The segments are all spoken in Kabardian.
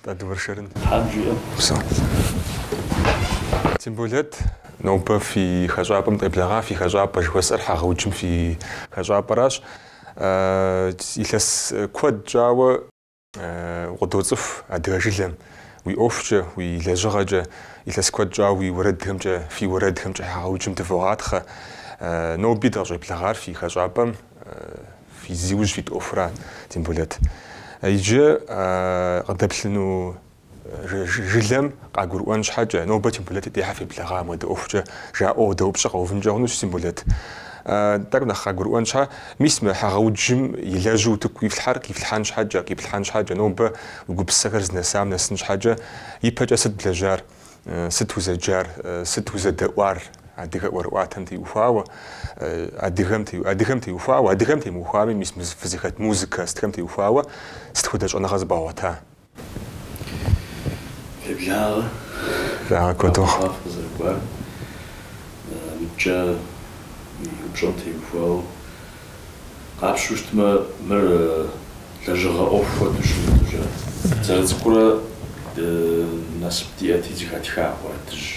Нтӏэ дыуэршэрын. Темболэт, нобэ фи хэщӏапӏэм дыкъеблэгъа, фи хэщӏапӏэ жыхуэсӏэр Хьэгъэуджым фи хэщӏапӏэращ. Илъэс куэд щӏауэ укъыдоцӏыху адыгэ жылэм, уи ӏуэхукӏэ, уи лэжьыгъэкӏэ, илъэс куэд щӏауэ уи уэрэдхэмкӏэ, фи уэрэдхэмкӏэ Хьэгъэуджым дывогъатхъэ. Ноби дыкъыщӏеблэгъар фи хэщӏапӏэм. Зи ужь фит ӏуэхура, Темболэт, иджы къыдэплъыну жылэм къагурыӏуэн щхьэкӏэ, нобэ Темболэт дей щхьэ феблэгъа мыдэ ӏуэхукӏэ жаӏэу къыдэупщӏэ къэувынкӏэ хъунущ, Темболэт, тӏэкӏу нэхъ къагурыӏуэн щхьэ, мис мы Хьэгъэуджым илэжьу утыку ифлъхьэр къифлъхьэн щхьэкӏэ, къиплъхьэн щхьэкӏэ, нобэ уи гупсысэхэр зынэсам нэсын щхьэкӏэ, ипэкӏэ сыт блэжьар? сыт узэджар, сыт узэдэӏуар, адыгэ ӏуэрыӏуатэм теухуауэ, адыгэм теухуауэ, адыгэм темыухуами, мис фызыхэт музыкэ сытхэм теухуауэ сыт хуэдэ щӏэныгъэ зыбгъэгъуэта? Феблагъэ. Благъэ куэду. Къэхъуа фыкъызэрыкӏуар. Мыдкӏэ упщӏэм теухуауэ Къапщу щытмэ, мыр лэжьыгъэ ӏуэху хуэдэу щымыту ежьа. Зэрыцӏыкӏурэ насып диӏэти, зыхэтха уэрэдыжь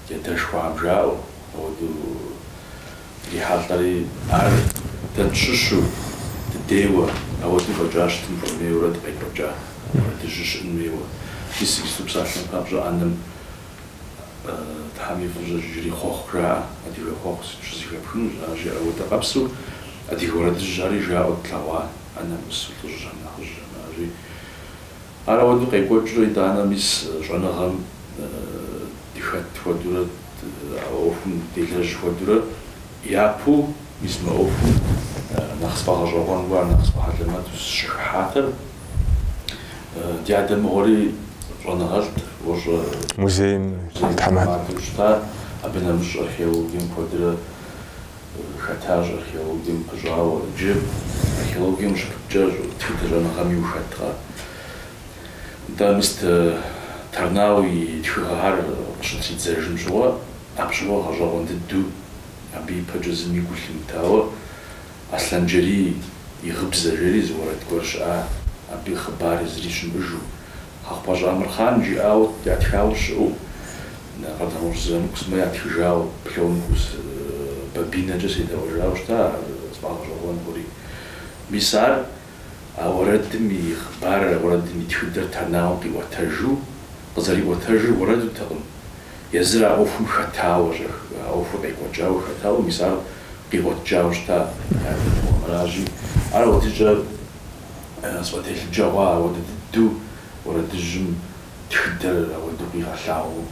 ди адэшхуэхэм жаӏэу, ауэдэу дрихьэлӏэри, ар дэ тщыщу, дыдейуэ, ауэдэу фӏэкӏа щытын хуэмейуэрэ дыкъекӏуэкӏа уэрэдыжьыр щыӏын хуейуэ. Мис иджы псалъэм папщӏэ ӏэнэм Тхьэм и фӏыщӏэ жери хъуэхъу жаӏэ, адыгэ хъуэхъу сыт щызэхэпхынущ, ар жаӏэу дыкъэпсэу, адыгэ уэрэдыжь ари жаӏэу тлъэгъуа, ӏэнэм ӏусу лӏыжьхэм, нэхъыжьхэм ари. Ар ауэдэу къекӏуэкӏрэ итӏанэ мис щӏэныгъэм дыхэт хуэдурэ, а ӏуэхум делэжь хуэдурэ. Япэу мис мы ӏуэхум нэхъ сфӏэгъэщӏэгъуэн хъуар, нэхъ сфӏэхьэлэмэту сыщыхыхьатэр, ди адэ мыгъуэри щӏэныгъэлӏт, ощӏэ. Музейм и тхьэмадэу щыта, абы нэмыщӏ археологием куэдрэ хэтащ, археологием пыщӏауэ. Иджы археологием ущыпыщӏакӏэ тхыдэ щӏэныгъэми ухэткъэ. Нтӏэ, мис Торнау и тхыгъэхэр къыщытридзэжым щыгъуэ. Апщыгъуэ гъэщӏэгъуэн дыдэу абы ипэкӏэ зыми гу лъимытауэ Аслъэнджэрий и гъыбзэ жери зы уэрэд гуэр щыӏа, абы и хъыбар зыри щымыӏыжу. Хьэхъупащӏэ Амырхъан жиӏауэ ятхауэ щыӏэу, Къардэнгъущӏ Зырамыку сымэ ятхыжауэ, плёнкэу сэ бобинэкӏэ седэӏуэжауэ щыта ар сфӏэгъэщӏэгъуэн хъури. Мис ар. А уэрэдым и хъыбарыр, а уэрэдым и тхыдэр Торнау къиӏуэтэжу, къызэриӏуэтэжыр уэрэдутэкъым, езыр а ӏуэхум хэтауэ щӏэх, а ӏуэхур къекӏуэкӏауэ хэтауэ, мис ар къиӏуэтэжауэ щыта яжыгъэу. Аращи, ар абдыщӏэ сфӏэтелъыджэгъуа ауэдэ дыдэу уэрэдыжьым тхыдэр ауэдэу къигъэлъагъуу.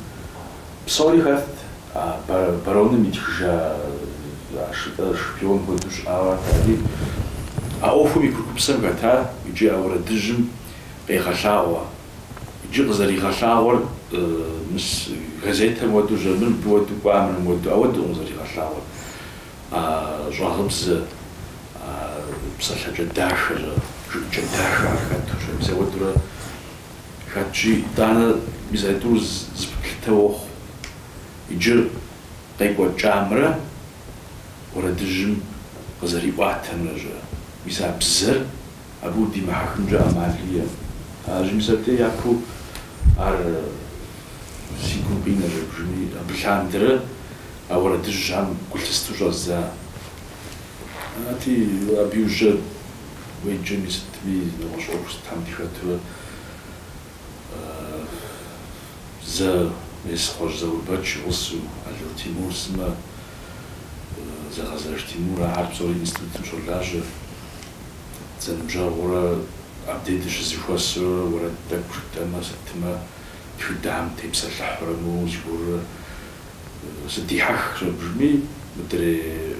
Псори хэтт, А бароным итхыжа Ашытӏэ шпион хуэдэу щыӏауэ арат ари а ӏуэхум и курыкупсэм хэтар икӏи а уэрэдыжьым къегъэлъагъуэ. Иджы къызэригъэлъагъуэр мыс газетэм уэду жиӏа, мыр мыбы уэду кӏуа мыр мы уэду ауэдукъым зэригъэлъагъуэр. А щӏагъыбзэ, а псалъэкӏэ дахэ, щӏэ жыӏыкӏэ дахэ ар хэту щӏагъыбзэ уэдурэ Хэтщи итӏанэ мис а тӏур зэпыплъытэ охъу. Иджы къекӏуэкӏамрэ уэрэдыжьым къызэриӏуатэмрэ жьэ, мис а бзэр абы удимыхьэхынкӏэ ӏэмал иӏэм. А жьы мис абдей япэу ар си гум къинэ жэбжыми, абы лъандэрэ а уэрэдыжьам гу лъысту щӏэздза. Арати, абы и ужьэ уеджэми сытми, нэгъуэщӏ ӏуэху сытхэм дыхэтурэ зэ мес Хъуэжь Заурбэч и гъусэу Ало Тимур сымэ, Зэгъэзэж Тимур, ахэр псори институтым щолажьэ. Зэныбжьэгъурэ абдей дыщызэхуэсурэ уэрэд тӏэкӏу жытӏэмэ, сытмэ тхыдэхэм тепсэлъыхьурэ моуэ зыгуэрурэ. Сыдихьэх, щӏэбжми, мыдрей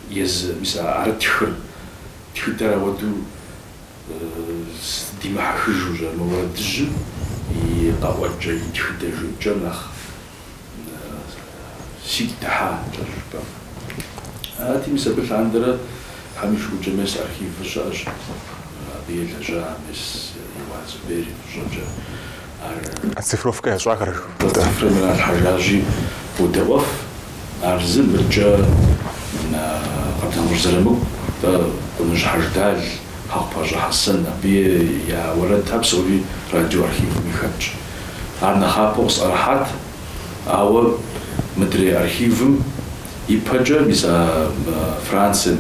езы, мис ары тхыр, тхыдэр ауэду сыдимыхьэхыжу щӏэр, мы уэрэдыжьым и къэӏуэкӏэ, и тхыдэ жыӏэкӏэр нэхъ сигу дыхьа тӏэщӏ жыпӏэм. Арати, мис абы лъандэрэ Тхьэм и шыкуркӏэ мес архивыр щыӏэщ, абы елэжьа мес Еуаз Зубер и фӏыщӏэкӏэ. Оцифровкэ ящӏахэр жыхуиӏэу. Цифрэм иралъхьэжащи, удэӏуэф, ар зы мыркӏэ Къардэнгъущӏ Зырамыку, Къуныжь Хьэждал, Хьэхъупащӏэ Хьэсэн, абы я уэрэдхэр псори радиоархивым ихэтщ. Ар нэхъапэу къысӏэрыхьат, ауэ мыдрей архивым ипэкӏэ мис а Францием,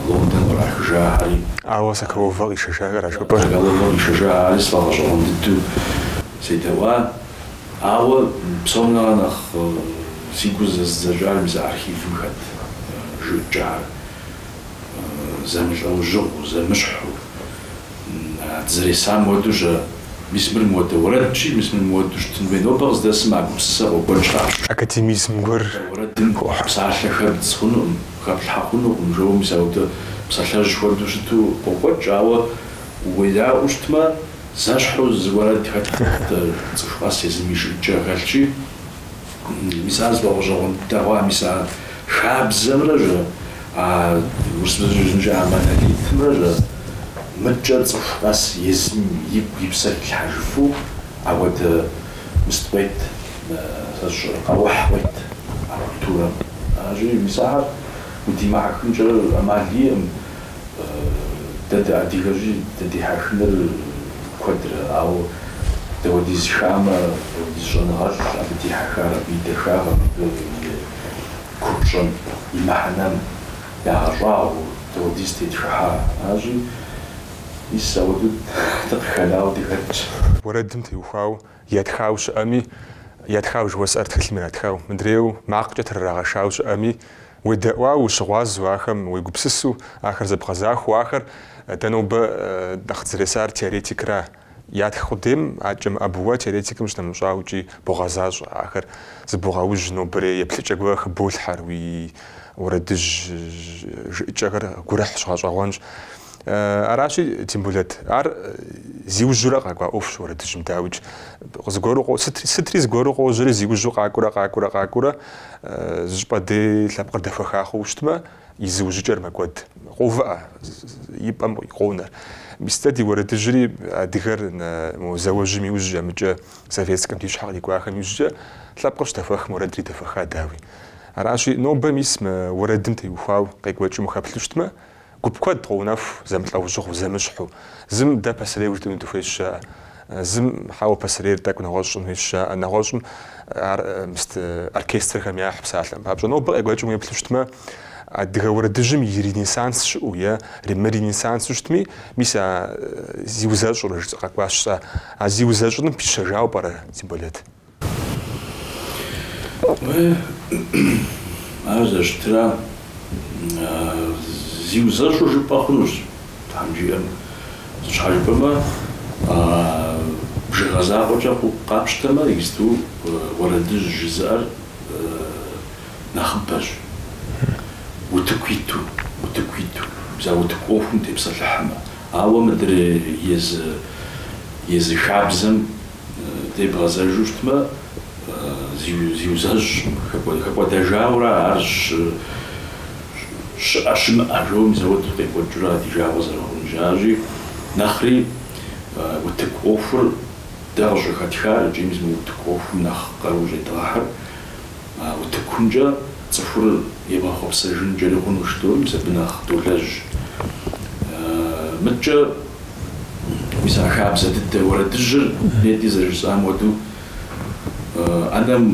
Лондон кърахыжахэри. Ауэ Соколовэ къишэжахэра жыпӏэ? Соколовэ къишэжахэри сфӏэгъэщӏэгъуэн дыдэу седэӏуа. Ауэ псом нэхърэ нэхъ си гур зэзыдзэкӏар мис архивым хэт жыӏэкӏэхэр зэмылӏэужьыгъуу, зэмыщхьу, а дызэресам уэду щӏэ, мис мыр мыуэдэ уэрэдщи, мис мыр мыуэду щытын хуей. Нобэ къыздэсым а гупсысэ къокӏуэкӏ къащӏ. Академизм гуэр хуохьэ. Уэрэдым хуохьэ псалъэхэр бдз хъунукъым. Хэплъхьэ хъунукъым, жо мис ауэдэ псалъэжь хуэдэу щыту къокӏуэкӏ, ауэ уедаӏуэу щытмэ, зэщхьу зы уэрэд хэтт, цӏыху къэс езым и жыӏэкӏэ хэлъщи, мис ар сфӏэгъэщӏэгъуэн дыдэ хъуа, мис ар хабзэмрэ жо, а урысыбзэкӏэ жызымыӏэжа а монолитымрэ жо, мыдкӏэ цӏыху къэс езым игу и псэр хилъхьэжыфу, ауэдэ. Мыст къует сэ сщӏэрэ къэухь къует а культурэм. Аращи, мис ахэр удимыхьэхынкӏэ ӏэмал иӏым. Дэ дыадыгэщи, дыдихьэхыныр куэдрэ, ауэ дауэдиз хамэ, дауэдиз щӏэныгъэлӏ абы дихьэхар, абы и дахагъэм, абы и купщӏэм, и мыхьэнэм ягъэщӏагъуэу дауэдиз тетхыхьа. Аращи, Мис ауэдэу дыкъыхэнауэ дыхэтщ. Уэрэдым теухуау ятхау щыӏэми, ятхау жыхуэсӏэр тхылъым иратхау, мыдрейуэ макъкӏэ трырагъэтхау щыӏэми, уедэӏуау, ущыгъуазэу ахэм, уегупсысу ахэр зэбгъэзахуэу ахэр, дэ нобэ нэхъ дызэресар теоретикра, Ятх къудейм акӏэ мыӏэбу, уэ теоретикым щынэмыщӏаукӏи богъэзащӏэ. Ахэр зыбогъэужь нобэрей еплъыкӏэ гуэрхэр хыболъхьэр, уи уэрэдыжь жыӏыкӏэхэр гурыхьщ, гъэщӏэгъуэнщ. Аращи, Темболэт, ар зиужьурэ къакӏуа ӏуэхущ уэрэдыжьым, дауикӏ, зыгуэру къо, сытри зыгуэру къожьэри, зиужьу къакӏуэрэ, къакӏуэрэ, къакӏуэрэ, зыщӏыпӏэ дей лъэпкъыр дэхуэха хъууэ щытмэ, И зыужьыкӏэр мэкӏуэд. Къоувыӏэ и пӏэм къонэр. Мис дэ ди уэрэдыжьри адыгэр мо зауэжьым и ужькӏэ мыдкӏэ советскэм ди щхьэ кърикӏуахэм и ужькӏэ лъэпкъыр щыдэхуэхым уэрэдри дэхуэха, дауи. Аращи, нобэ мис мы уэрэдым теухуау къекӏуэкӏым ухэплъыщтмэ, гуп куэд къоунэху зэмылӏэужьыгъу зэмыщхьу, зым дэ пасэрейу жытӏэну дыхуейщ, жаӏэ. Зым, хьэуэ, пасэрейр тӏэкӏу нэгъуэщӏ щӏын хуейщ, жаӏэ. Нэгъуэщӏым ар мыст оркестрхэм яхь псалъэм папщӏэ. Нобэ къекӏуэкӏым уеплъу щытмэ, адыгэ уэрэдыжьым и ренессанс щыӏэу е иремыренессансу щытми, мис а зиузэщӏурэ жысӏэ къэкӏуащ сэ. А зиузэщӏыным пищэжауэ пӏэрэ, Темболэт? Ар зэщытра, зиузэщӏу жыпӏэ хъунущ, Тхьэм жиӏэм. Щхьэ жыпӏэмэ, бжыгъэ закъуэкӏэ къапщтэмэ, иджыпсту уэрэдыжь жызыӏэр нэхъыбэщ, утыку иту, утыку иту, мис а утыку ӏуэхум тепсэлъыхьмэ. Ауэ мыдрей езы, езы хабзэм. Дебгъэзэжу щытмэ, зиузэщӏ хэкӏуэдэжауэра ар щыӏэ-щымыӏэ жо мис ауэдэу къекӏуэкӏыурэ а ди жагъуэ зэрыхъужащи, нэхъри утыку ӏуэхур дэ къыщӏыхэтхар икӏи мис мы утыку ӏуэхум нэхъ къаруу щӏедгъэхьыр А утыкумкӏэ цӏыхур игъэхъуэпсэжынкӏэри хъунущ, дэри мис абы нэхъ долэжь. Мыткӏэ мис а хабзэ дыдэ уэрэдыжьыр нетӏэ зэрыжысӏам хуэдэу ӏэнэм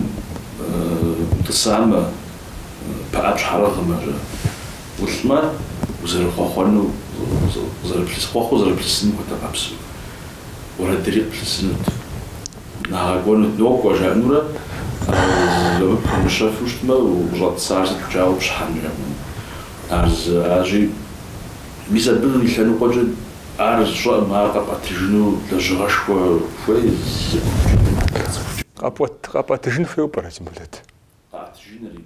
утӏысамэ, пыӏэ пщхьэрыгъымэ, жа, улӏмэ, узэрыхъуэхъуэну, къызэрыплъыс, хъуэхъуу зэрыплъысыным хуэдэ къабзэу уэрэдри къыплъысынут. Нагъэкӏуэнут, нокӏуэ жаӏэнурэ къыпумыщэфу щытмэ, укъыщӏэтӏысар сыт пкӏауэ пщхьэм жаӏэну? Ар щыӏащи, мис абы и лъэныкъуэкӏэ ар зыщӏэӏым ар къэпӏэтыжыну лэжьыгъэшхуэ хуейщ. Къэпӏэтыжын хуейуэ пӏэрэ Темболэт? Къэӏэтыжынри.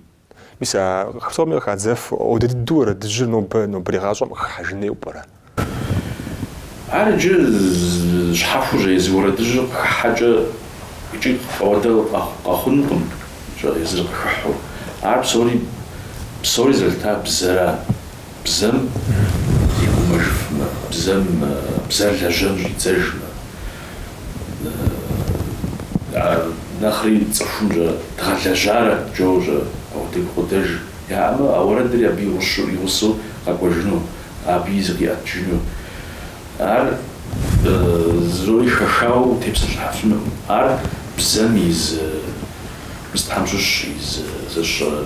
Мис а цӏыху псоми къыхадзэфу ауэдэ дыдэу уэрэдыжьыр нобэ нобэрей гъащӏэм къыхыхьэжын хуейуэ пӏэрэ? Ар иджы щхьэхуэщ, езы уэрэдыжьыр къыхыхьэкӏэ икӏи ауэдэ къэхъунукъым езыр къыхыхьу. Ар псори, псори зэлъыта бзэра? Бзэм дегугъужыфмэ, бзэм, бзэр лэжьэн щӏидзэжмэ, а нэхъри цӏыхум щӏэ дгъэлэжьарэт жаӏэу щӏэ апхуэдэ гукъыдэж яӏэмэ, а уэрэдри абы игъущу, и гъусэу къэкӏуэжыну, абы зыкъиӏэтыжыну. Ар зырои хэхауэ утепсэлъыхьыфынукъым. Ар бзэм и зы, мыстхьэм щыщ и зы зыщӏэ.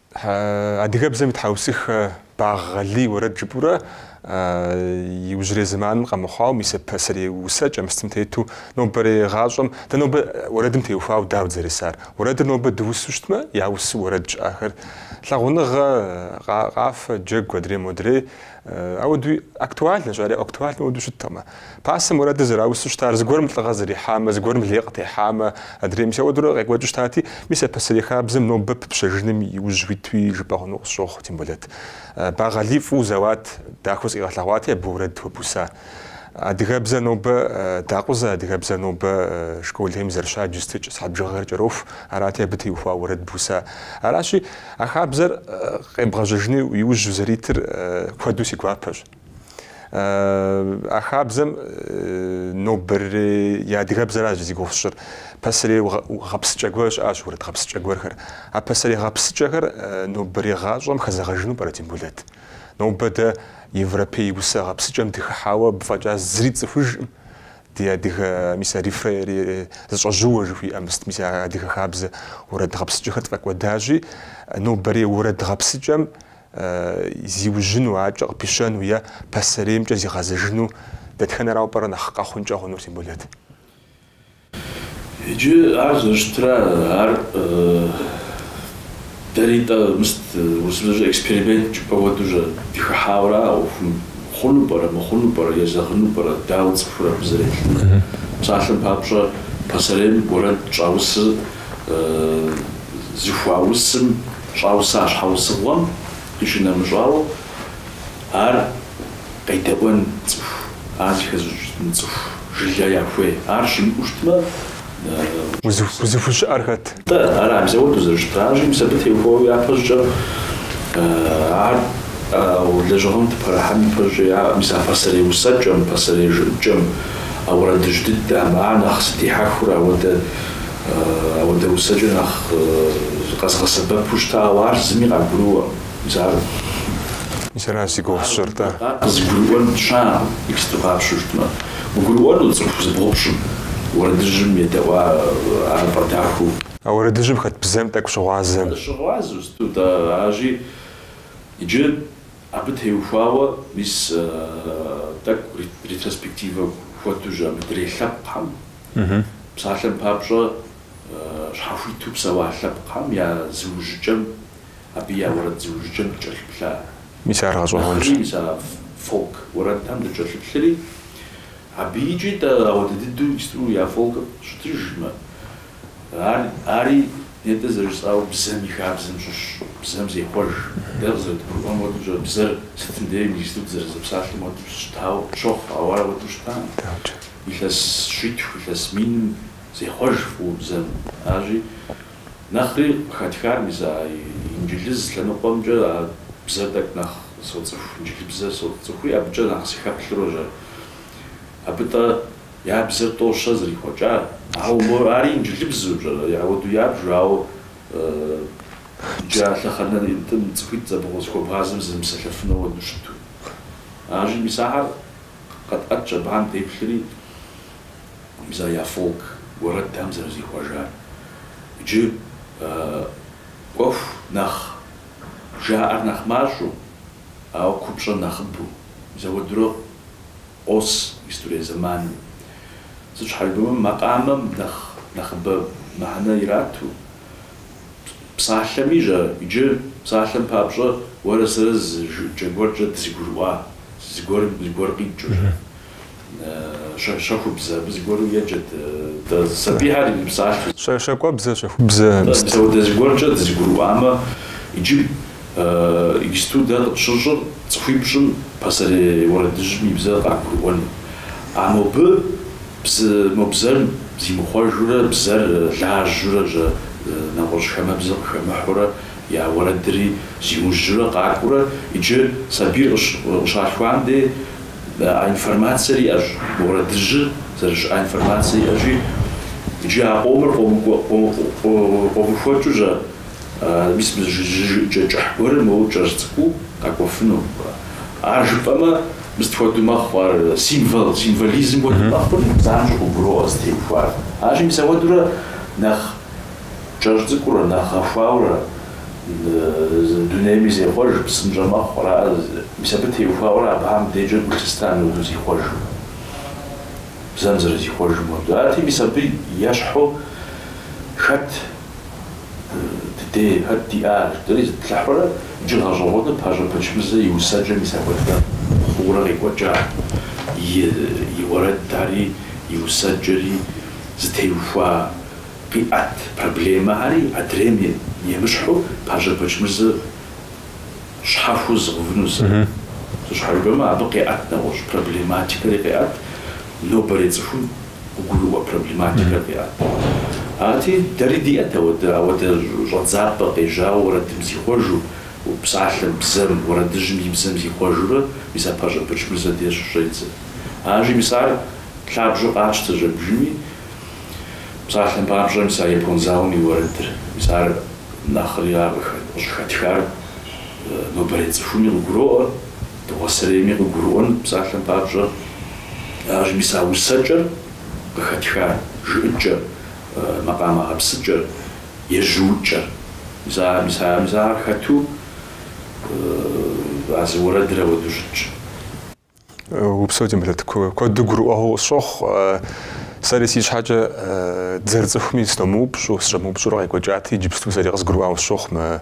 Адыгэбзэм и тхьэусыхэ Багъ Алий и уэрэд жыпӏурэ иужьрей зэманым къэмыхъуауэ мис а пасэрей усэкӏэ мыстым тету нобэрей гъащӏэм дэ нобэ уэрэдым теухуауэ дауэ дызэресар? Уэрэдыр нобэ дыусу щытмэ, я усу уэрэд щыӏэхэр, лъагъуныгъэ, къафэ, джэгу, адрей-модрей, Ауэдуи актуальнэщ, ари актуальнэ ауэду щыткъымэ. Пасэм уэрэдыр зэраусу щытар зыгуэрым лӏыгъэ зэрихьамэ, зыгуэрым лей къытехьамэ, адрей, мис ауэдурэ къекӏуэкӏыу щытати, мис а пасэрей хабзэм нобэ пыпщэжыным и ужь уитуи жыпӏэ хъуну къысщохъу, Темболэт, Багъ Алий фӏыуэ зэуат, дахэу зыкъигъэлъэгъуати, абы уэрэд хуэбуса. Адыгэбзэр нобэ дакъузэ, адыгэбзэр нобэ школхэм зэрыщадж щытыкӏэ, сыхьэт бжыгъэхэр кӏэроху, арати абы теухуа уэрэд буса. Аращи, а хабзэр къебгъэжьэжыну и ужь узэритыр куэду си гуапэщ. А хабзэм нобэрей адыгэбзэращ зи гугъу сщӏыр. Пасэрей гъэпсыкӏэ гуэр щыӏащ, уэрэд гъэпсыкӏэ гуэрхэр. А пасэрей гъэпсыкӏэхэр нобэрей гъащӏэм хэзэгъэжыну пӏэрэ Темболэт? Нобэ дэ европей усэ гъэпсыкӏэм дыхыхьауэ абы фӏэкӏа зыри тцӏыхужкъым. Ди адыгэ мис а рефрен зэщӏэжьыууэ жыхуиӏэ мыст, мис а адыгэ хабзэ уэрэд гъэпсыкӏэхэр тфӏэкӏуэдажи, нобэрей уэрэд гъэпсыкӏэм зиужьыну, акӏэ къыпищэну е пасэреймкӏэ зигъэзэжыну дэтхэнэрауэ пӏэрэ нэхъ къэхъункӏэ хъунур, Темболэт? Иджы ар зэрыщытра, ар дэри-тӏэ мыст, урысыбзэкӏэ эксперимент жыпӏэ хуэдэу-щэ, дыхыхьауэ-ра а ӏуэхум? Хъуну пӏэрэ, мыхъуну пӏэрэ, езэгъыну пӏэрэ, дауэ цӏыхур абы зэреплъынур? Псалъэм папщӏэ, пасэрейм уэрэд щӏаусыр зыхуаусым щӏауса щхьэусыгъуэм къищынэмыщӏауэ, ар Къедэӏуэн цӏыху, ар зыхэзыщӏын цӏыху жылэ яхуей. Ар щымыӏэу щытмэ. Узыхущыӏэр хэт? Тӏэ, ар мис ауэдэу зэрыщытыр аращи, мис абы теухуауэ япэщӏыкӏэ ар лэжьыгъэм дыпэрыхьэн ипэщӏыкӏэ, мис а пасэрей усэкӏэм, пасэрей жыӏыкӏэм, а уэрэдыжь дыдэм, ар нэхъ сыдихьэхыурэ ауэдэ усэкӏэ нэхъ къэзыгъэсэбэпу щытауэ ар зыми къагурыӏуэ. Мис аращ зи гугъу сщӏыр-тӏэ. Къызыгурыӏуэн щыӏэкъым, текстыр къапщтэу щытмэ. Къагурыӏуэну цӏыху зыбгъупщӏым, уэрэдыжьым едэӏуа ар фӏэдахэу. А уэрэдыжьым хэт бзэм тӏэкӏу щыгъуазэм. Щыгъуазэу щыту тӏэ аращи, иджы абы теухуауэ мис тӏэкӏу ретроспективэ хуэдэу-щэ мыдрей лъэпкъхэм, псалъэм папщӏэ, щхьэхуиту псэуа лъэпкъхэм я зыужьыкӏэм. абы я уэрэд зыужьыкӏэм дыкӏэлъыплъа. Мис ар гъэщӏэгъуэнщ. Нэхъри мис а фолк уэрэдхэм дыкӏэлъыплъри, абы икӏи тӏэ ауэдэ дыдэу иджыпсту я фолкыр щытыжым, ар, ари нетӏэ зэрыжысӏауэ бзэм и хабзэм щыщщ, бзэм зехъуэж. Дэ къызэрыдгурыӏуэм хуэдэу-щэ, бзэр сытым дей иджыпсту дызэрызэпсалъэм хуэдэу щытауэ щохъу, ауэ ар ауэдэу щытам. Илъэс щитху, илъэс миным зехъуэж фӏыуэ бзэм. Аращи, Нэхъри къыхэтхар мис а инджылыз лъэныкъуэмкӏэ а бзэр тӏэкӏу нэхъ соцӏыху, инджылыбзэр соцӏыхури абыкӏэ нэхъ сыхэплъыру-щэ. Абы тӏэ я бзэр тӏо-щэ зэрихъуэкӏар. Ауэ мо ари инджылыбзу-щэ, ауэду ябжу, ауэ иджы а лъэхъэнитӏым цӏыхуитӏ зэбгъу зыхуэбгъазэм зэмыпсэлъэфыну уэду щыту. Аращи мис ахэр къэтӏэтщ абыхэм деплъри. мис а я фолк уэрэдхэм зэрызихъуэжар. Иджы ӏуэху нэхъ жаӏэр нэхъ мащӏэу, ауэ купщӏэр нэхъыбэу мис ауэдэурэ къос иджыпстурей зэманым. Сыт щхьэкӏэ жыпӏэмэ, макъамэм нэхъыбэ мыхьэнэ ирату, псалъэми-щэ, иджы псалъэм папщӏэ уэрэ сэрэ зы жыӏэкӏэ гуэркӏэ дызэгурыӏуа зыгуэрым зыгуэр къикӏыу-щэ. Щэхубзэ абы зыгуэру еджэт. Сабийхэр и псалъэщ. Щакӏуэбзэ, Щэхубзэ. Мис ауэдэ зыгуэркӏэ дызэгурыӏуамэ, иджы мыстудэ къытщыщӏыр цӏыхуипщӏым пасэрей уэрэдыжьым и бзэр къагурыӏуэну. А мобы бзэм, мо бзэр зимыхъуэжурэ бзэр лажьурэ щэ нэгъуэщӏ хамэбзэ къыхэмыхьурэ я уэрэдри зиужьурэ къакӏуурэ иджы сабийр къыщалъхуам дей, А информацэр иӏэщ, мы уэрэдыжьыр зэрыщыӏа информацэр иӏэщи, иджы а къомыр къомыхуэкӏыу щэ, мис мы зы жыӏэкӏэ кӏыхь гуэрыр моуэ кӏэщӏ цӏыкӏуу къэкӏуэфыну. Ар жыпӏэмэ, мыстхуэдэу мэхъу, ар символ, символизм хуэдэу мэхъури, занщӏэу къыбгуроӏуэ зытеухуар. Арщи, мис апхуэдэурэ нэхъ. Кӏэщӏ цӏыкӏурэ, нэхъ гъэхуауэрэ, дунейми зехъуэж, псынщӏэ мэхъу, аракъэ, мис абы теухуауэрэ абыхьэм декӏэ гу лъыста мыуэду зихъуэжу, бзэм зэрызихъуэжым хуэдэу. Арати, мис абы ещхьу хэт ди дей, хэт диӏэ ар жыпӏэри зыплъыхьурэ, иджы гъэщӏэгъуэну Пащӏэ Бэчмырзэ и усэкӏэ мис апхуэдэ хъуурэ къекӏуэкӏа и уэрэдари, и усэкӏэри зытеухуа. Къиӏэт проблемэри адрейм емыщхьу Пащӏэ Бэчмырзэ щхьэхуэу зыгъэувыну, сыт щхьэ жыпӏэмэ, абы къеӏэт нэгъуэщӏ проблематикэри къеӏэт, нобэрей цӏыхум къыгурыӏуэ проблематикэр къеӏэт. Арати, дэри диӏэт ауэдэ, ауэдэ щӏэдзапӏэ къежьауэ уэрэдым зихъуэжу, псалъэм, бзэм, уэрэдыжьым и бзэм зихъуэжурэ, мис ар Пащӏэ Бэчмырзэ деж щӏедзэ. Арщи, мис ар лъабжьэу къатщтэ жьэбжыми. Псалъэм папщӏэ, мис а япон зауэм и уэрэдыр, мис ар нэхъри ар къыщӏыхэтхар нобэрей цӏыхуми къыгуроӏуэ, дыгъуасэрейми къыгурыӏуэн, псалъэм папщӏэ, аращи, мис а усэкӏэр къыхэтхар, жыӏыкӏэр, макъамэ гъэпсыкӏэр, ежьуукӏэр. Мис ар хэту а зы уэрэдыр ауэдэу щытщ. Упсэу, Темболэт, куэду гурыӏуэгъуэу къысщохъу. Сэри си щхьэкӏэ дызэрыцӏыхуми сыномыупщӏу, сыщӏэмыупщӏурэ къекӏуэкӏати, иджыпсту сэри къызгурыӏуауэ сщохъу мы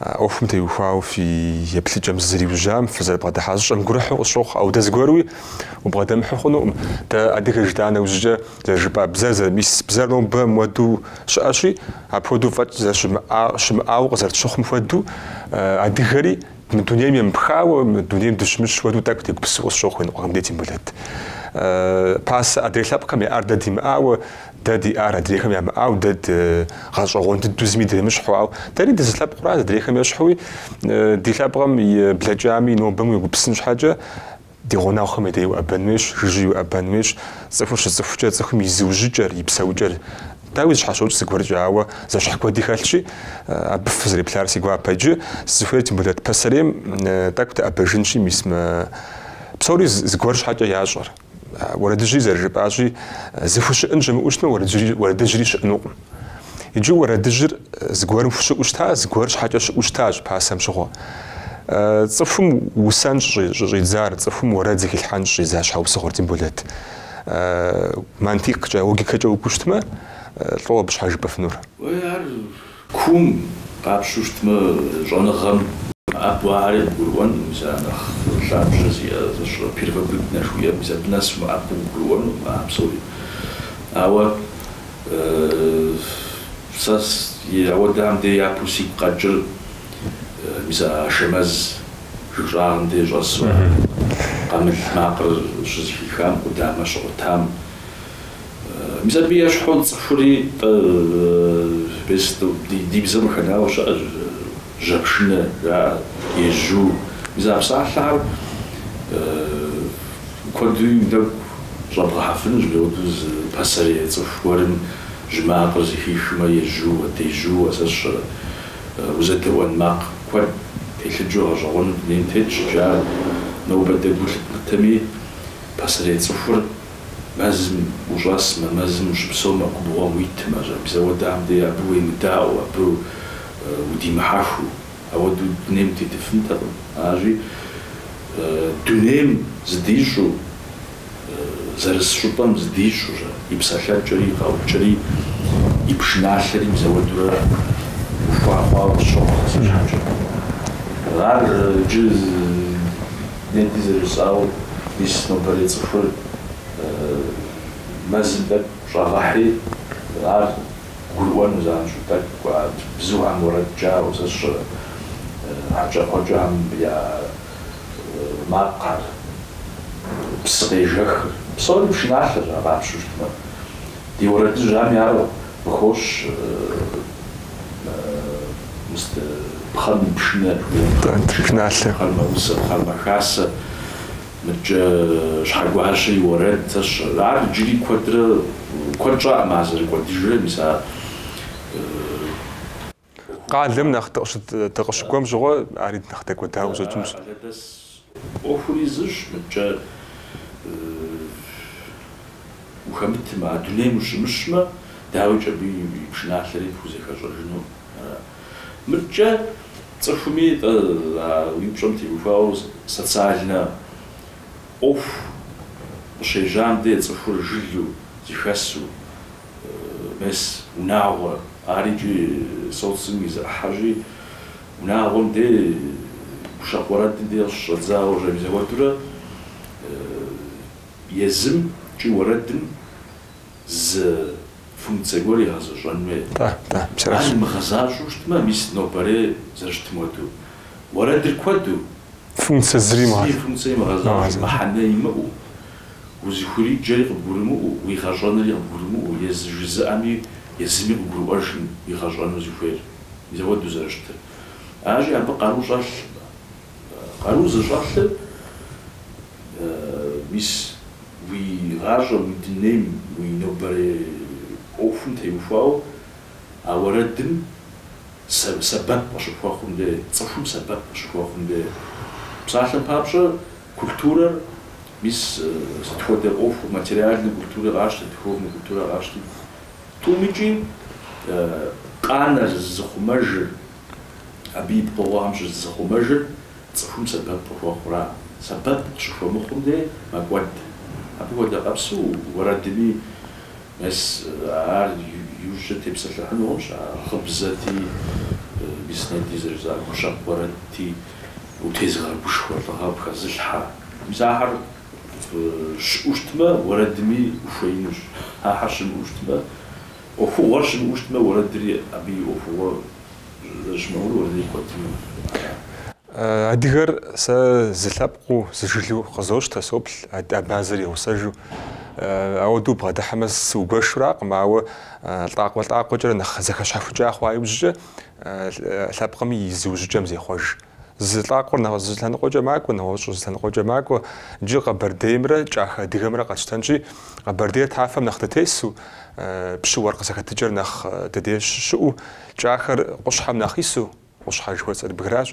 ӏуэхум теухуауэ фи еплъыкӏэм зызэриужьам, фызэрыбгъэдыхьа зыщӏэм гурыхьу къысщохъу. Ауэ дэ зыгуэруи убгъэдэмыхьу хъунукъым. Дэ адыгэ жытӏа нэужькӏэ зэрыжыпӏа бзэр зэры, мис бзэр нобэ муэду щыӏэщи, апхуэдэу фӏэкӏ щымыӏауэ къызэрытщыхъум хуэдэу, адыгэри, Мы дунейм емыпхауэ, мы дунейм дыщымыщ хуэдэу тӏэкӏу дегупсысу къысщохъу, иныкъуэхэм дей Темболэт. Пасэ адрей лъэпкъхэм яӏар дэ димыӏауэ, дэ диӏар адрейхэм ямыӏауэ, дэ дыгъэщӏэгъуэн дыдэу зыми дремыщхьу, ауэ дэри дызылъэпкъра, адрейхэм ещхьуи, ди лъэпкъым и блэкӏами, и нобэми уегупсын щхьэкӏэ, Ди гъунэгъухэм я деи уӏэбэн хуейщ, жыжьи уӏэбэн хуейщ. Цӏыхур щыцӏыхукӏэ, цӏыхум и зыужьыкӏэр, и псэукӏэр, дауи зыщхьэщокӏ зыгуэркӏэ, ауэ зэщхь куэди хэлъщи, абы фызэреплъар си гуапэ иджы. Сызыхуейр Темболэт пасэрейм тӏэкӏу дыӏэбэжынщи, мис мы псори зыгуэр щхьэкӏэ ящӏэр. Уэрэдыжьри зэрыжыпӏащи, зыхущыӏэн щымыӏэу щытмэ, уэрэдыжьри щыӏэнукъым. Иджы уэрэдыжьыр зыгуэрым хущыӏэу щыта, зыгуэр щхьэкӏэ щыӏэу щытащ пасэм щыгъуэ. Цӏыхум усэн щӏыщӏидзар, цӏыхум уэрэд зыхилъхьэн щӏидза щхьэусыгъуэр Темболэт. Мантиккӏэ, логикэкӏэ укӏуэу щытмэ, лӏо абы щхьэ жыпӏэфынур. Уей, ар куум къапщтэу щытмэ, щӏэныгъэм абы ари къыгурыӏуэнкъым, мис ар нэхъ лъабжьэ зиӏэ, сщӏэрэ, первобытнэ жыхуиӏэм, мис абы нэс мыӏэбэм къыгурыӏуэнукъым а псори. Ауэ Сэ ауэдэм де япэу сигу къэкӏыр мис а Ашэмэз жыг щӏагъым де щӏэсу а къамыл макъыр щызыхихам, къудамэ щигъуэтам. Мис абы ещхьу цӏыхури, тӏэ, бесту ди бзэм къыхэнауэ щыӏэщ. Жьэпшынэ жаӏэ, ежьу. Мис а псалъэхэр куэдри нэгу щӏэбгъэхьэфынущ, мыуэдэу зы пасэрей цӏыху гуэрым жьы макъыр зыхихмэ, ежьууэ, дежьууэ сэ сщӏэрэ. Узэдэӏуэн макъ куэд телъыджэу гъэщӏэгъуэну дунейм тетщ икӏи ар нобэ дэ гу лъыдмытэми, пасэрей цӏыхур мэзым ущӏэсмэ, мэзым ущыпсэумэ, губгъуэм уитмэ, мис ауэдэм дей абы уемыдаӏуэу, абы удимыхьэхыу, ауэдэу дунейм тетыфынтэкъым, аращи, дунейм зыдищӏу, зэрыс щӏыпӏэм зыдищӏурэ, и псалъэкӏэри, и къэӏукӏэри, и пшыналъэри мис ауэдурэ ухуа хъуауэ къысщохъу сэ си щхьэкӏэ. Ар иджы нетӏи зэрыжысӏауэ, мис нобэрей цӏыхур мэзым тӏэкӏу щӏэгъэхьи, ар Гурыӏуэну занщӏэу тӏэкӏу кӏуат. Бзухэм уэрэд кӏауэ сэ сщӏэрэ? Хьэкӏэкхъуэкӏэхэм я макъхэр, псы къежэхыр, псори пшыналъэщ, ар къапщтэу щытмэ. Ди уэрэдыжьхэми ар къыхощ, мис пхъэм и пшынэ, пшыналъэ, пхъэр мэусэ, пхъэр мэхасэ, Мыдкӏэ Щхьэгуащэ и уэрэд, сщӏэрэ. Ар иджыри куэдрэ, куэд щӏакъым ар зэрыкӏуэдыжрэ, мис а къалэм нэхъ дыкъыщыкӏуэм щыгъуэ, ари нэхъ дэкӏуэдауэ къыщӏэкӏынщ. Къалэдэс ӏуэхури зыщ, мыдкӏэ ухэмытмэ, а дунейм ущымыщмэ, дауикӏ абы и пшыналъэри пхузэхэщӏэжыну ара? Мыдкӏэ цӏыхуми тӏэ а уи пщӏэм теухуауэ социальнэ ӏуэху къыщежьам де цӏыхур жылу, зыхэсу, мес унагъуэ, ар икӏи социум и зы ӏыхьэщи, унагъуэм де, гущэкъу уэрэдым де къыщыщӏэдзауэ мис ауэдурэ езым икӏи уэрэдым зы функцэ гуэр игъэзэщӏэн хуей. Ар имыгъэзащӏэу щытмэ, мис нобэрей зэрыщытым хуэдэу, уэрэдыр куэду, функцэ зыри имыгъэзащӏэу, мыхьэнэ имыӏэу, узыхуриджэри къыбгурымыӏуэу, уигъэщӏэнри къыбгурымыӏуэу, езы жызыӏэми езыми къыгурыӏуэжым игъэщӏэну зыхуейр, мис ауэдэу зэрыщытыр. Аращи, абы къару щӏэлъ, къару зыщӏэлъыр, мис. Уи гъащӏэм, уи дунейм, уи нобэрей ӏуэхум теухуауэ а уэрэдым сэбэп къыщыхуэхъум де, цӏыхум сэбэп къыщыхуэхъум де. Псалъэм папщӏэ, культурэр, мис сыт хуэдэ ӏуэху, материальнэ культурэ къащтэ, духовнэ культурэ къащти, тӏумикӏи къанэр, зызыхъумэжыр, абы и пкъыгъуэхэм щызызыхъумэжыр Цӏыхум сэбэп къыхуэхъура? Сэбэп къыщыхуэмыхъум де мэкӏуэд. Абы хуэдэ къабзу уэрэдми мес ар иужькӏэ тепсэлъыхьыну хъунщ, а гъыбзэти, мис нетӏэ зэрыжысӏа гущэкъу уэрэдти, утезыгъэгушхуэ лӏыгъэ пхэзылъхьэ. Мис ахэр щыӏэу щытмэ, уэрэдми ухуеинущ. Ахэр щымыӏэу щытмэ, ӏуэхугъуэр щымыӏэу щытмэ, уэрэдри абы и ӏуэхугъуэ Адыгэр сэ зы лъэпкъыу, зы жылэу къызощтэ, соплъ абазэр и гъусэжу. Ауэдэу бгъэдыхьэмэ сыугуэшуракъым, ауэ лӏакъуэ-лӏакъуэкӏэрэ нэхъ зэхэщхьэхукӏа хъуа иужькӏэ лъэпкъыми и зыужьыкӏэм зехъуэж. Зы лӏакъуэр зы зы лъэныкъуэкӏэ макӏуэ, нэгъуэщӏыр зы лъэныкъуэкӏэ макӏуэ. Джы Къэбэрдеймрэ Кӏахэ Адыгэмрэ къэтщтэнщи, Къэбэрдейр тафэм нэхъ дытесу, пщы-уэркъ зэхэтыкӏэр нэхъ ди дей щыщыӏэу, Кӏахэр къущхьэм нэхъ ису, къущхьэ жыхуэсӏэр бгыращ,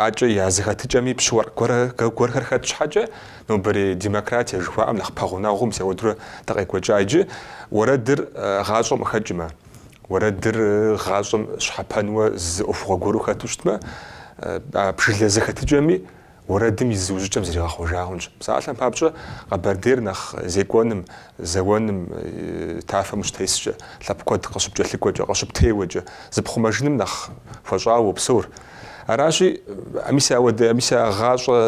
акӏэ я зэхэтыкӏэми пщы-уэркъ гуэрхэр хэт щхьэкӏэ, нобэрей демократие жыхуаӏэм нэхъ пэгъунэгъу, мис ауэдурэ дыкъекӏуэкӏа иджы, уэрэдыр гъащӏэм къыхэкӏмэ. уэрэдыр гъащӏэм щхьэпэнуэ зы ӏуэхугъуэ гуэру хэту щытмэ, а жылэ зэхэтыкӏэми уэрэдым и зыужьыкӏэм зригъэхъуэжа хъунщ. Псалъэм папщӏэ, Къэбэрдейр нэхъ зекӏуэным, зэуэным, тафэм ущытескӏэ, лъэпкъ куэд къыщыпкӏэлъыкӏуэкӏэ, къыщыптеуэкӏэ, зыпхъумэжыным нэхъ хуэщӏауэ уопсэур. Аращи, мис ауэдэ, мис а гъащӏэ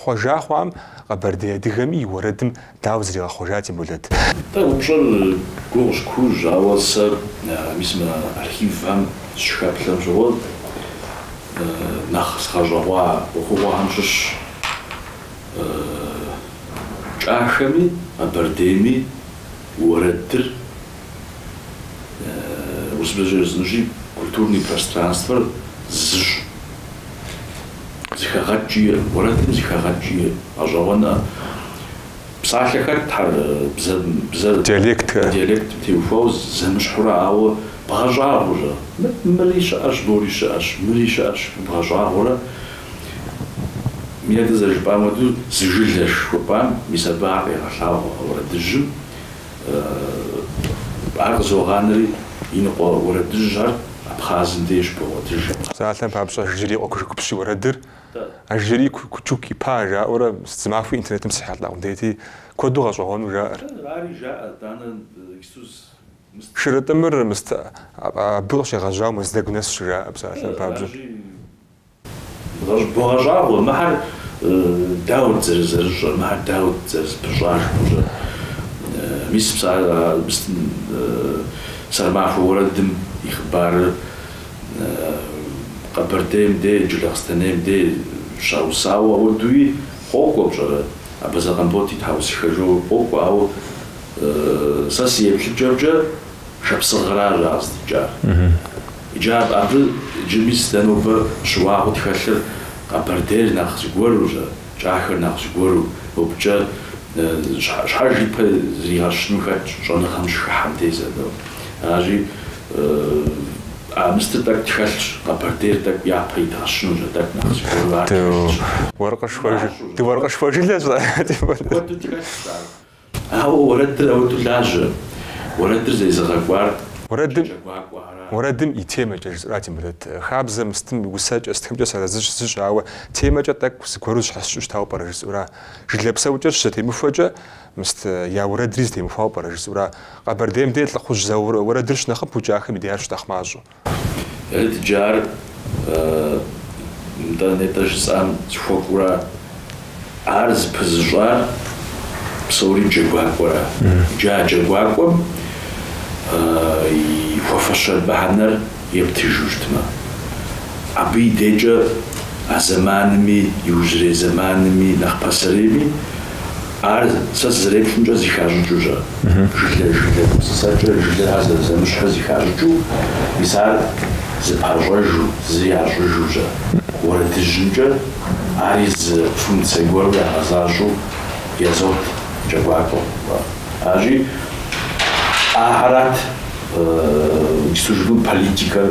хъуэжа хъуам Къэбэрдей адыгэми и уэрэдым Дауэ зригъэхъуэжа, Темболэт? Дэ упщӏэр гугъущ, куужь, ауэ сэ мис мы архивхэм сщыхэплъэм щыгъуэ нэхъ сгъэщӏэгъуа ӏуэхугъуэхэм щыщщ Кӏахэми Къэбэрдейми уэрэдыр урысыбзэкӏэ жысӏэнущи, культурный пространствэр зыщ зыхэгъэкӏи, уэрэдым зыхэгъэкӏи гъэщӏэгъуэна псалъэхэр бзэр, диалектым теухуауэ зэмыщхьурэ, ауэ бгъэщӏагъуэурэ, мыри щыӏэщ, мори щыӏэщ, мыри щыӏэщ, бгъэщӏагъуэурэ, нетӏэ зэрыжыпӏам хуэдэу, зы жылэщ жыхуэпӏам мис абы ар къегъэлъагъуэ уэрэдыжьым, Ар къызогъанэри, иныкъуэ уэрэдыжьыр абхъазым деж богъуэтыж. Псалъэм папщӏэ, Ажджэрий и къуэ Кушыкупщ и уэрэдыр, Ажджэрий Кучук-ипа жаӏэурэ зы махуи интернетым срихьэлӏа къудейти, куэду гъэщӏэгъуэну жаӏэр. Шырытӏымыр мыст абы къыщегъэжьауэ Мэздэгу нэс щыжаӏэ, псалъэм папщӏэ. Богъэщӏагъуэ, мыхьэр дауэт зэрызэрыщӏэр, мыхьэр дауэт зэрызыпыщӏар жыпӏэщӏэ. Мис Сэрмахуэ уэрэдым и хъыбарыр Къэбэрдейм де, Джылахъстэнейм де щаусауэ апхуэдэуи къокӏуэ пщӏэрэ? Абазэ Къамбот и тхьэусыхэ жаӏэуи къокӏуэ, ауэ сэ си еплъыкӏэмкӏэ Шапсыгъыращ ар къыздикӏар. Иджы абы джыми сыт дэ нобэ щыуагъэу тхэлъыр, къэбэрдейр нэхъ зыгуэру, кӏахэр нэхъ зыгуэру, мыбыкӏэ щхьэж ипэ зригъэщыну хэтщ щӏэныгъэм щыхыхьэм деж дэ. Аращи, а мыстыр тӏэкӏу тхэлъщ, къэбэрдейр тӏэкӏу япэ идгъэщынущ, а тӏэкӏу нэхъ зыгуэру ар тхэлъщ. Дыуэркъышхуэ жылэщ. Куэду тхэлъщ ар. Ауэ уэрэдыр ауэ долажьэ, уэрэдыр зэризыгъэкӏуар. Уэрэдым, уэрэдым и темэкӏэ жысӏэура, Темболэт. Хабзэ мыстым усэкӏэ сытхэмкӏэ сыарэзыщ, зыщ, ауэ темэкӏэ тӏэкӏу зыгуэру зэщхьэщыкӏыу щытауэ пӏэрэ жысӏэура? Жылэ псэукӏэр щызэтемыхуэкӏэ мыст я уэрэдри зэтемыхуауэ пӏэрэ жысӏэура? Къэбэрдейм де лӏыхъужь зауэ уэрэдыр щынэхъыбэу кӏахэм и деяр щынэхъ мащӏэу. Ет джы ар нтӏэ нетӏэ жысӏам сыхуэкӏура? Ар зыпызыщӏар псори джэгуакӏуэра? Джы а джэгуакӏуэм и хуэфащэ мыхьэнэр ептыжу щытмэ, абы и декӏэ а зэманми, иужьрей зэманми, нэхъ пасэрейми, Ар сэ сызэреплъымкӏэ зыхащӏыкӏыу жаӏэ? Жылэ, жылэ гупсысэкӏэ, жылэхэр зэрызэмыщӏхэр зыхащӏыкӏыу, мис ар зыпащӏэжу, зы ящӏыжу жаӏэ? Уэрэдыжьымкӏэ, ари зы функцэ гуэру ягъэзащӏэу яӏэт джэгуакӏуэм. Аращи, ахэрат и службым политикэр.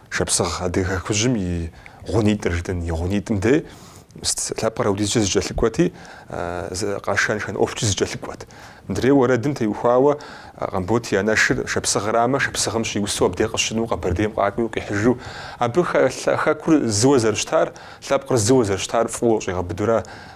Шапсыгъ Адыгэ Хэкужьым и гъунитӏыр жытӏэнщ, и гъунитӏым дес лъэпкъыр апхуэдизкӏэ зыкӏэлъыкӏуэти, къэшэн-шэн ӏуэхукӏи зыкӏэлъыкӏуэт. Мыдрей уэрэдым теухуауэ Къамбот и анэшыр Шапсыгърамэ, Шапсыгъым щиусу абдей къыщежьэу Къэбэрдейм къакӏуэу къихьыжу, абы хэкур зыуэ зэрыщтар, лъэпкъыр зыуэ зэрыщтар фӏыуэ щӏигъэбыдэрэ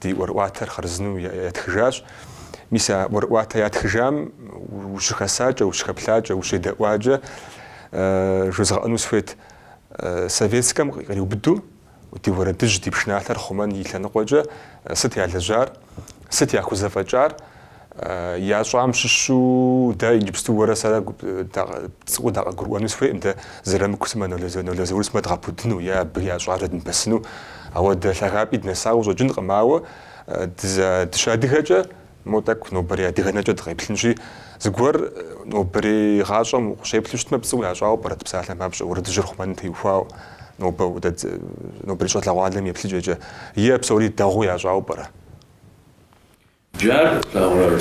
ди ӏуэрыӏуатэр хъарзынэу ятхыжащ. Мис а ӏуэрыӏуатэ ятхыжам ущыхэсакӏэ, ущыхэплъакӏэ, ущедэӏуакӏэ жозгъэӏэну сыхуейт. Советскэм къриубыдэу ди уэрэдыжь, ди пшыналъэр хъумэн и лъэныкъуэкӏэ сыт ялэжьар, сыт яхузэфӏэкӏар? Ящӏам щыщу дэ иджыпсту уэрэ сэрэ пцӏыуэ дакъыгурыӏуэну сыхуейкъым, дэ Зырамыку сымэ Нало Заур сымэ дгъэпудыну е абы ящӏар дэдмыпэсыну. Ауэ дэ лъагапӏи днэсауэ щӏэкӏынкъым, ауэ дыщыадыгэкӏэ мо тӏэкӏу нобэрей адыгэ нэкӏэ дыкъеплъынщи, зыгуэр нобэрей гъащӏэм укъыщеплъу щытмэ, пцӏыуэ ящӏауэ пӏэрэ псалъэм папщӏэ, уэрэдыжьыр хъумэным теухуауэ нобэ нобэрей щӏалэгъуалэм еплъыкӏэкӏэ, е псори дэгъуэу ящӏауэ пӏэрэ? Иджы ар плъагъуэр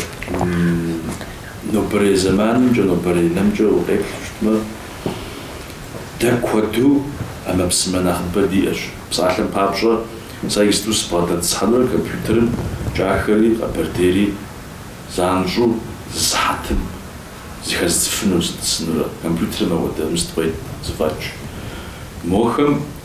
нобэрей зэманымкӏэ, нобэрей нэмкӏэ укъеплъу щытмэ, дэ куэду ӏэмэпсымэ нэхъыбэ диӏэщ. Псалъэм папщӏэ, сэ иджыпсту сыбгъэдэтӏысхьэнурэ компьютерым кӏахэри къэбэрдейри занщӏэу зы сыхьэтым зыхэзцӏыфыну, сытӏысынурэ. Компьютерым апхуэдэ мыст къует зэфӏэкӏ. Мохэм.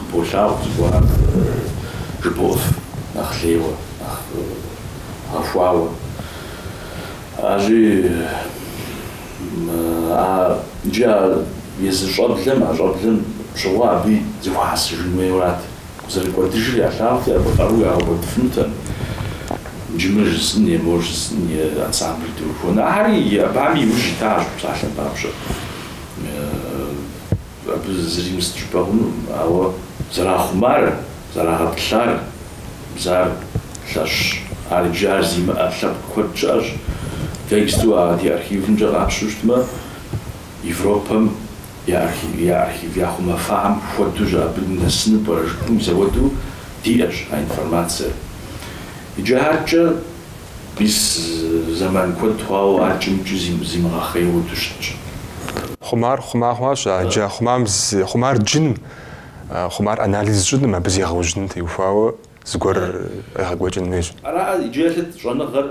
Уболъагъу зыгуэрым жыбоӏэф нэхъ лейуэ, нэхъ гъэхуауэ. Арщӏи, иджы а езы щӏэблэм, а щӏэблэм щыгъуэ абы зэхуэхьэсыжын хуейуэрат. Къызэрыкӏуэдыжыр ялъагъути, абы къару ягъэкӏуэдыфынутэкъым. Иджы мыр жысӏын е мор жысӏын е ансамблыр дыухуэн. Ахэри абы иужь итащ псалъэм папщӏэ. Абы зыри имысыт жыпӏэ хъунукъым, ауэ зэрахъумар, зэрагъэтӏылъар бзэр лъэщщ. Ар иджы ар зимыӏэ лъэпкъ куэд щыӏэщ. Тексту а ди архивымкӏэ къапщу щытмэ, Европэм я архив яхъумэфахэм хуэдэу щыӏэ, абы нэсыну пӏэрэ жыпӏэм хуэдэу диӏэщ а информацэр. Иджы аркӏэ. Мис зэман куэд хъуауэ ар кӏымкӏи зимыгъэхъейуэду щытщ. Хъумар хъума хъуащ, а джа хъумам зи хъумар джыным, а хъумар анализ щӏыным, абы зегъэужьыным теухуауэ зыгуэр къегъэкӏуэкӏын хуейщ. Ара иджы еплъыт щӏэныгъэр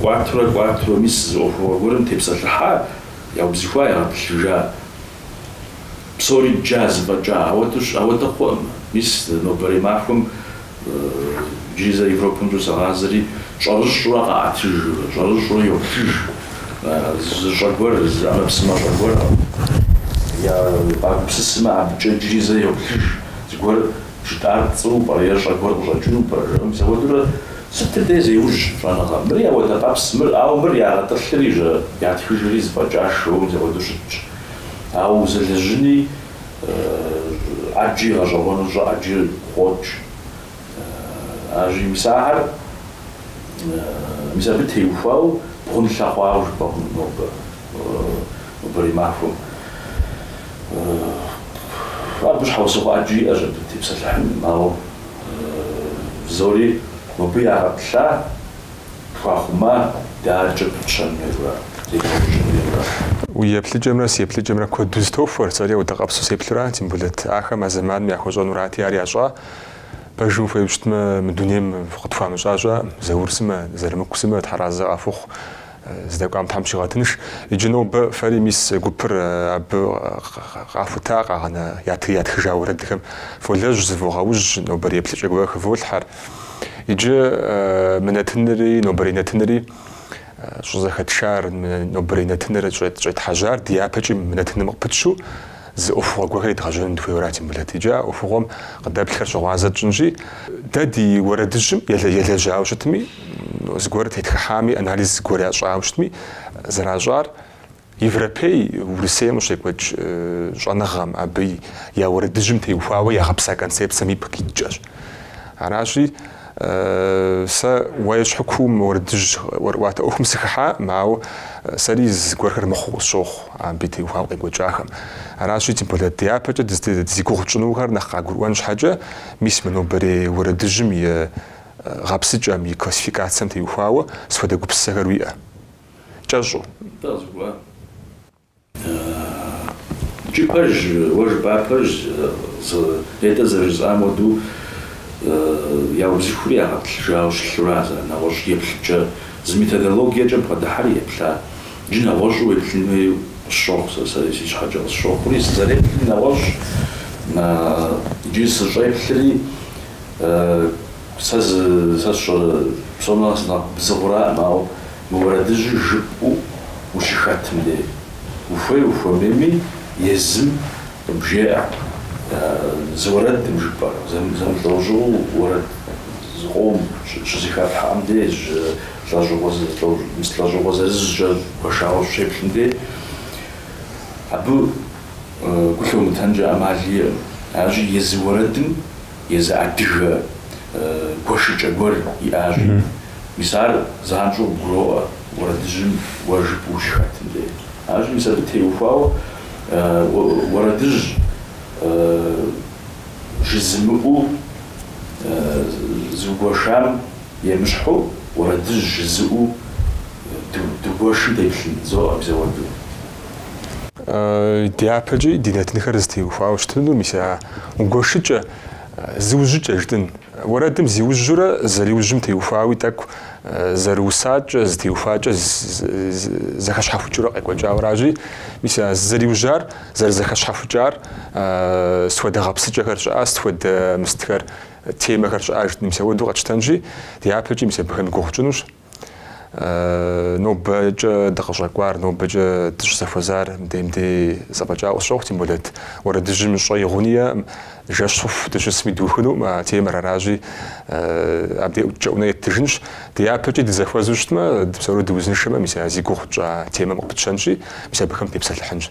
кӏуатурэ кӏуатурэ, мис зы ӏуэхугъуэ гуэрым тепсэлъыхьа, яубзыхуа, ягъэтӏылъыжа, псори дджа, зэфӏэкӏа, ауэдэу щ, ауэдэ хъуӏым. Мис нобэрей махуэм Иджыри зэ Европэмкӏэ согъазэри щӏэрыщӏурэ къаӏэтыж, щӏэрыщӏурэ йоплъыж. Зы щӏэ гуэр, зы ӏэмэпсымэ щӏэ гуэр къагупсысмэ, абыкӏэ иджыри зэ йоплъыж. Зыгуэр жытӏар пцӏыу пӏэрэ е щӏэ гуэр къыщӏэкӏыну пӏэрэ? жаӏэ мыпхуэдурэ сытыр дей зеужь щӏэныгъэм. Мыри ауэдэ къабзэ, мыр, ауэ мыр ягъэтӏылъыри, жаӏэ, ятхыжри зэфӏэкӏа жоуэ мыпхуэду щытщ. Ауэ узэлэжьыни ӏэджи гъэщӏэгъуэну щӏэ ӏэджи къокӏ. Аращи мис ахэр, мис абы теухуау бгъунлъэ хъуауэ жыпӏэ хъунущ нобэрей махуэм. Абы щхьэусыгъуэ ӏэджи иӏэщ абы тепсэлъыхьыным, ауэ псори мыбы ягъэтӏылъа. Хахума дакӏэ пчъэмерра, зекӏуэкӏымерра? Уи еплъыкӏэмрэ си еплъыкӏэмрэ куэду зытохуэр, сэри ауэдэ къабзу сеплъу ара, Тембулэт, ахэм а зэманым яхуэщӏэнурати ар ящӏа, пэжым ухуейуэ щытмэ, мы дунейм къытхуамыщӏа щыӏэкъым, Заур сымэ, Зырамыку сымэ, тхьэразэ къахухъу, здэкӏуам Тхьэм щигъэтынш. Иджы нобэ фэри мис гупыр абы къахута къагъэна ятхыжа уэрэдхэм фолэжь, зывогъэужь, нобэрей еплъыкӏэ гуэр хыволъхьэр. Иджы мы нэтынри нобэрей нэтынри щӏызэхэтшар, мы нобэрей нэтыныр щӏетхьэжьар дяпэкӏи мы нэтыным къыпытщэу зы ӏуэхугъуэ гуэрхэр едгъэжьэным дыхуейуэ ара, Тембулэт. Иджы а ӏуэхугъуэм къыдэплъхэр щыгъуазэ тщӏынщи, дэ ди уэрэдыжьым елэжьауэ щытми, зыгуэр тетхыхьами, анализ зыгуэр ящӏауэ щытми, зэращӏар, Европей Урысейм къыщекӏуэкӏ щӏэныгъэм, абы я уэрэдыжьым теухуауэ ягъэпса концепцэм ипкъ иткӏэщ. Аращи, сэ уэ ещхьу куууэ уэрэдыжь ӏуэрыӏуатэ ӏуэхум сыхыхьакъым, ауэ сэри зыгуэрхэр мыхъуу къысщохъу абы теухуауэ къекӏуэкӏахэм. Аращи, тем более дяпэкӏэ зи гугъу тщӏынухэр нэхъ къагурыӏуэн щхьэкӏэ, мис мы нобэрей уэрэдыжьым и гъэпсыкӏэм, и классификацэм теухуауэ сыт хуэдэ гупсысэхэр уиӏэ. кӏэщӏу. Нтӏэ къызгурыӏуа? Икӏи пэж, уэ жыпӏар пэж, нетӏэ зэрыжысӏам хуэдэу, яубзыхури ягъэтӏылъыжауэ щылъу ара зы нэгъуэщӏ еплъыкӏэ, зы методологиекӏэ бгъэдыхьэри еплъа. Иджы нэгъуэщӏу уеплъын хуей къысщохъу сэ, сэри си щхьэкӏэ къысщохъури, сызэреплъри нэгъуэщӏщ, иджы сыщӏеплъри. Сэ зы, сэ сщӏэрэ, псом нэхъ сынэхъ бзыгъураӏым, ауэ мы уэрэдыжьыр жыпӏэу ущыхэтым дей, ухуей ухуэмейми, езым къыбжеӏэ, зы уэрэдым жыпӏэ, зэмылӏэужьыгъуэу уэрэд зыкъом щызэхэтлъхьэм дей, жьы лӏэужьыгъуэ зы, лӏэужьыгъуэ зырызкӏэ гуэшауэ ущеплъым дей, абы гу лъумытэнкӏэ ӏэмал иӏэкъым. Аращи, езы уэрэдым. Езы адыгэ гуэшыкӏэ гуэр иӏэщи, мис ар занщӏэу гуроӏуэ уэрэдыжьым уэ жыпӏэу ущыхэтым дей. Аращи, мис абы теухуауэ уэрэдыжь жызымыӏэу зыгуэшам емыщхьу, уэрэдыжь жызыӏэу дыгуэшым деплъын, зоӏэ мис ауэду. Дяпэкӏи ди нэтынхэр зытеухуауэ щытынур мис а Гуэшыкӏэ, зыужьыкӏэ жытӏын. Уэрэдым зиужьурэ зэриужьым теухуауи тӏэкӏу зэрыусакӏэ, зытеухуакӏэ зэхэщхьэхукӏыурэ къекӏуэкӏауэ аращи, мис а зызэриужьар, зэрызэхэщхьэхукӏар сыт хуэдэ гъэпсыкӏэхэр щыӏа, сыт хуэдэ мыстхэр, темэхэр щыӏа жытӏын. Мис ауэду къэтщтэнщи, дяпэкӏи мис абыхэм гугъу тщӏынущ. Нобэкӏэ дыкъыщӏэкӏуар, нобэкӏэ дыщызэхуэзар мдей-мдей зэфӏэкӏауэ сщохъу, тем более уэрэдыжьым щӏэи гъуни иӏэкъым, жэщ хъуху дыщысми духынукъым а темэр. Аращи, абдей кӏэунэ еттыжынщ. Дяпэкӏи дызэхуэзу щытмэ, дыпсэурэ дыузыншэмэ, мис а зи гугъу тщӏа темэм къыпытщэнщи, мис абыхэм тепсэлъыхьынщ.